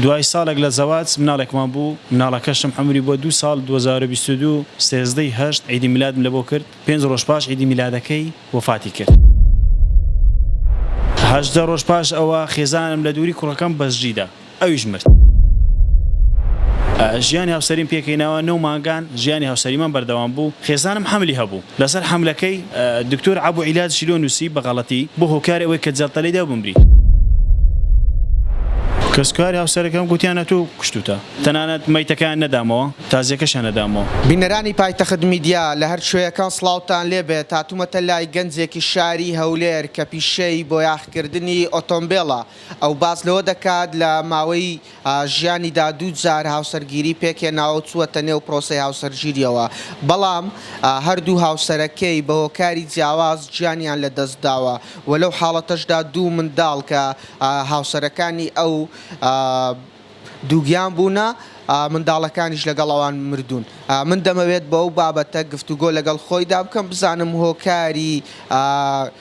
دوای ساڵێک لە زەواج مناڵێکمان بوو، مناڵەکەشم عەمری بووە دوو ساڵ، دوو هەزار و بیست و دوو سێزدە ی هەشت عیدی میلادم لەبۆ کرد، پێنج ڕۆژ پاش عیدی میلادەکەی وەفاتی کرد. هەژدە ڕۆژ پاش ئەوە خێزانم لە دووری کوڕەکەم بەجدیدا ئەویش مرد. ژیانی هاوسەریم پێکهێناوە، نۆ مانگان ژیانی هاوسەریمان بەردەوام بوو، خێزانم حەملی هەبوو، لەسەر حەملەکەی دکتۆر عەبو عیلاد شیلۆ نووسی، بە غەڵەتی بووە هۆکاری ئەوەی کە جەڵتە لێی دا و بمری. کەسوکاری هاوسەرەکەم گوتیانە تۆ کوشتووتە. تەنانەت مەیتەکەیان نەدامەوە، تازییەکەشیان نەدامەوە. بینەرانی پایتەخت میدیا لە هەر کوێیەکان سڵاوتان لێ بێت هاتومەتە لای گەنجێکی شاری هەولێر کە پیشەی بۆیاخکردنی ئۆتۆمبێڵە ئەو باس لەوە دەکات لە ماوەی ژیانیدا دوو جار هاوسەرگیری پێکهێناوە و چووەتە نێو پرۆسەی هاوسەرگیرییەوە، بەڵام هەردوو هاوسەرەکەی بە هۆکاری جیاواز گیانیان لەدەستداوە و لەو حاڵەتەشدا دوو منداڵ کە هاوسەرەکانی ئەو دووگیان بوونە، منداڵەکانیش لەگەڵ ئەوان مردوون. من دەمەوێت بەو بابەتە گفتوگۆ لەگەڵ خۆیدا بکەم بزانم هۆکاری.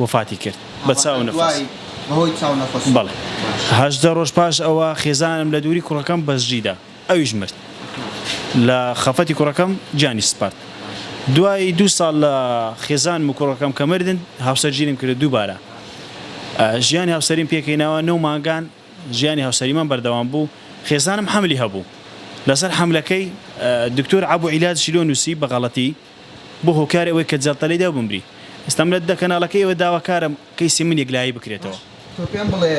وەفاتی کرد بە چاو نەفەس. بەڵێ. هەژدە ڕۆژ پاش ئەوە خێزانم لە دووری کوڕەکەم بەجدی دا. ئەویش مرد. لە خەفەتی کوڕەکەم گیانی سپارد. دوای دوو ساڵ لە خێزانم و کوڕەکەم کە مردن، هاوسەر گیرم کردو دووبارە ژیانی هاوسەریم پێکەینەوە. نۆ مانگان ژیانی هاوسەریمان بەردەوام بوو. خێزانم حەملی هەبوو. لەسەر حەملەکەی دکتۆر عەبو عیلاج شیلۆ نووسی بە غەڵەتی. بۆ هۆکاری ئەوەی کە جەڵتە لێیدا و بمری. ئێستا من لە کەناڵەکەی ئێوە داواکارم کەیسی من یەکلایی بکرێتەوە. تۆ پێم بڵێ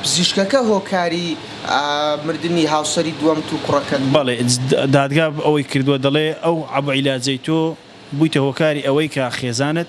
پزیشکەکە هۆکاری مردنی هاوسەری دووەمت و کوڕەکەت بوو؟ بەڵێ دادگا ئەوەی کردووە دەڵێ ئەو عەبئیلاجەی تۆ بوویتە هۆکاری ئەوەی کە خێزانت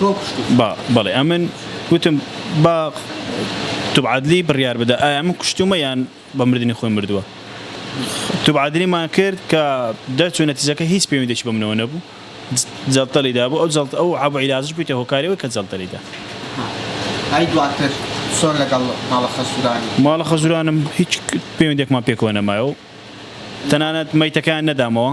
تۆ کوشتی؟ با، بەڵێ، ئەمن وتم، با توبعادلی بڕیار بدە ئایا من کوشتوومە یان بە مردنی خۆی مردووە. توبعادلیمان کرد کە دەرچوو نەتیجەکە هیچ پەیوەندییەکی بە منەوە نەبوو، جەڵتەی دابوو، ئەو جەڵتە، ئەو عەبو عیلاجەش بوویتە هۆکاری ئەوەی کە جەڵتەی دا. ئەی دواتر چۆن لەگەڵ ماڵە خەزوورانی؟ ماڵە خەزوورانم هیچ پەیوەندییەکمان پێکەوە نەمایەوە و تەنانەت مەیتەکەیان نەدامەوە.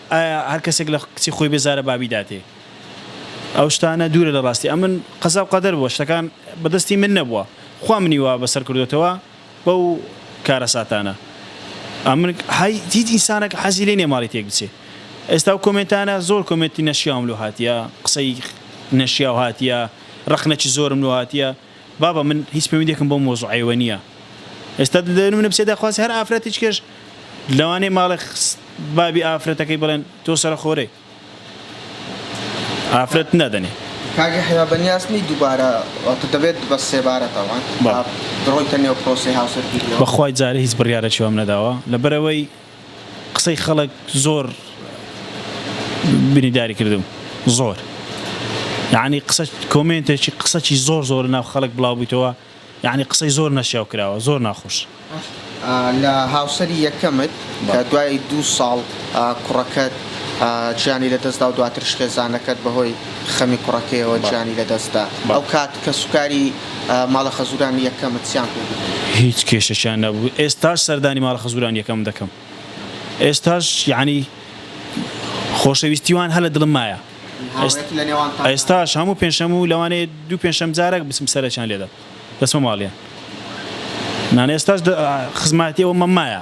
ئایا هەر کەسێک لە کچی خۆی بێزارە با بیداتێ ئەو شتانە دوورە لە ڕاستی ئەمن قەزا و قەدەر بووە شتەکان بە دەستی من نەبووە خوا منی وا بەسەر کردۆتەوە بەو کارەساتانە ئەمن هەی هیچ ئینسانەک حەزی لێ نیە ماڵی تێک بچێ ئێستا ئەو کۆمێنتانە زۆر کۆمێنتی نەشیاوم لۆ هاتیە قسەی نەشیاو هاتیە ڕەخنەکی زۆرم لۆ هاتیە بابە من هیچ پەیوەندیەکم بەو مەوزوعەیەوە نیە ئێستا دەدەێنم نەپسێ داخوازی هەر ئافرەتیچکەش لەوانەیە ماڵێ بابی ئافرەتەکەی بڵێن تۆ سەرە خۆرەی ئافرەت نادەنێ کاگە حیا بەنیاز نی دووبارە دەبێت بە سێبارە تاوان بڕۆیتە نێو پرۆسی هاوسەرگیری بەخوای جارە هیچ بڕیارە چێوەم نەداوە لەبەرەوەی قسەی خەڵک زۆر بینیداری کردم زۆر یعنی قسە کۆمێنتێکی قسەکی زۆر زۆر ناو خەڵک بڵاو بوویتەوە یعنی قسەی زۆر نەشیاو کراوە زۆر ناخۆش لە هاوسەری یەکەمت کە دوای دوو ساڵ کوڕەکەت گیانی لە دەستدا و دواترش خێزانەکەت بەهۆی خەمی کوڕەکەیەوە گیانی لە دەستدا ئەو کات کەسوکاری ماڵە خەزوران یەکەمت چیان کردبوو؟ هیچ کێشەکیان نەبوو ئێستاش سەردانی ماڵە خەزوران یەکەم دەکەم ئێستاش یەعنی خۆشەویستی وان هەر لە دڵم مایە ئێستاش هەموو پێنجشەم و لەوانەیە دوو پێنجشەم جارەک بچم سەرەکیان لێدەم دەچمە ماڵیان نان ئێستاش خزماتی ئەومە مایە.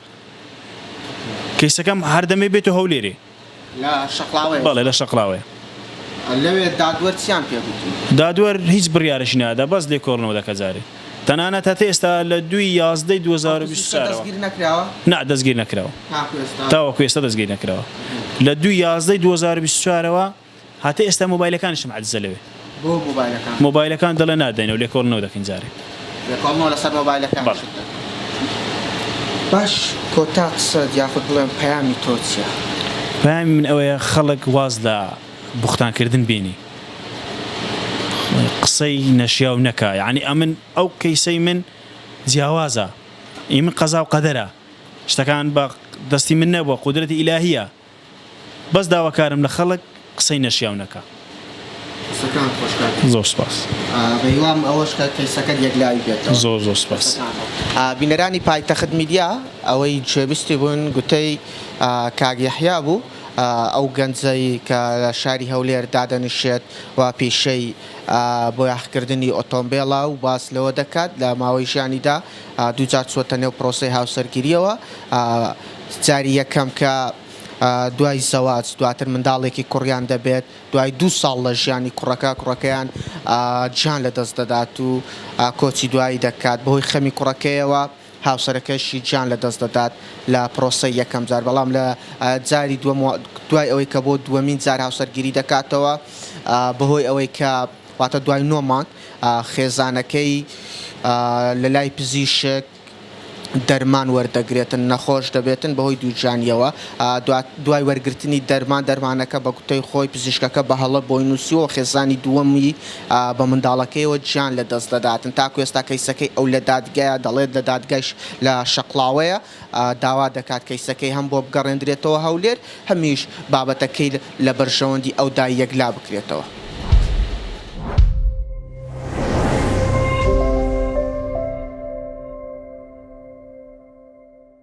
کەیسەکەم هەر دەمێ بێتو هەولێرێ. لە شەقڵاوەیە؟ بەڵێ لە شەقڵاوەیە. لەوێ دادوەر چیان پێ گوتوون؟ دادوەر هیچ بڕیارێکی نەدادا بەس لێکۆڵنەوە دەکا جارێ تەنانەت هەتا ئێستا لە دوو ی یازدە ی دوو هەزار و بیست و چوار ەوە نا دەستگیر نەکراوە تاوەکو ئێستا دەستگیر نەکراوە لە دوو ی یازدە ی دوو هەزار و بیست و چوار ەوە. هاتە ئێستا مۆبایلەکانیشم عەجزە لەوێ. بۆ مۆبایلەکان؟ مۆبایلەکان دەڵێ نادەینەوە لێکۆڵینەوە دەکەین جارێ. لێکۆڵنەوە لەسەر مۆبایلەکانیشت بەڵێ. دەکەن. باش کۆتا قسەت یاخود بڵێم پەیامی تۆ چیە؟ پەیامی من ئەوەیە خەڵک واز لە بوختان کردن بێنی. قسەی نەشیاو نەکا. یەعنی ئەمن ئەو کەیسەی من جیاوازە. ئی من قەزاو قەدەرە. شتەکان بە دەستی من نەبوە قودرەتی ئیلاهیە. بەس داواکارم لە خەڵک قسەی نەشیاو نەکا. قسەکانت خۆش کاک زۆر سوپاس. بەهیوام ئەوەش کە کەیسەکەت یەکلاوی بێتەوە. زۆر زۆر سوپاس. بینەرانی پایتەخت میدیا ئەوەی گوێبیستی بوون گوتەی کاک یەحیا بوو ئەو گەنجەی کە لە شاری هەولێر دادەنیشێت و پیشەی بۆیاخکردنی ئۆتۆمبێڵە و باس لەوە دەکات لە ماوەی ژیانیدا دووجار چووەتە نێو پرۆسەی هاوسەرگیرییەوە، جاری یەکەم کە دوای زەواج دواتر منداڵێکی کوڕیان دەبێت، دوای دوو ساڵ لە ژیانی کوڕەکە، کوڕەکەیان گیان لەدەست دەدات و کۆچی دوایی دەکات، بەهۆی خەمی کوڕەکەیەوە هاوسەرەکەشی گیان لەدەست دەدات لە پرۆسەی یەکەم جار، بەڵام لە جاری دووەم دوای ئەوەی کە بۆ دووەمین جار هاوسەرگیری دەکاتەوە بەهۆی ئەوەی کە. واتە دوای نۆ مانگ خێزانەکەی لەلای پزیشک دەرمان وەردەگرێتن نەخۆش دەبێتن بەهۆی دووگیانیەوە دوای وەرگرتنی دەرمان دەرمانەکە بە گوتەی خۆی پزیشکەکە بە هەڵە بۆی نووسیوە خێزانی دووەمی بە منداڵەکەیەوە گیان لەدەست دەداتن تاکو ئێستا کەیسەکەی ئەو لە دادگایە دەڵێت لە دادگایش لە شەقڵاوەیە. داوا دەکات کەیسەکەی هەم بۆ بگەڕێندرێتەوە هەولێر، هەمیش بابەتەکەی لە بەرژەوەندی ئەودا یەکلا بکرێتەوە.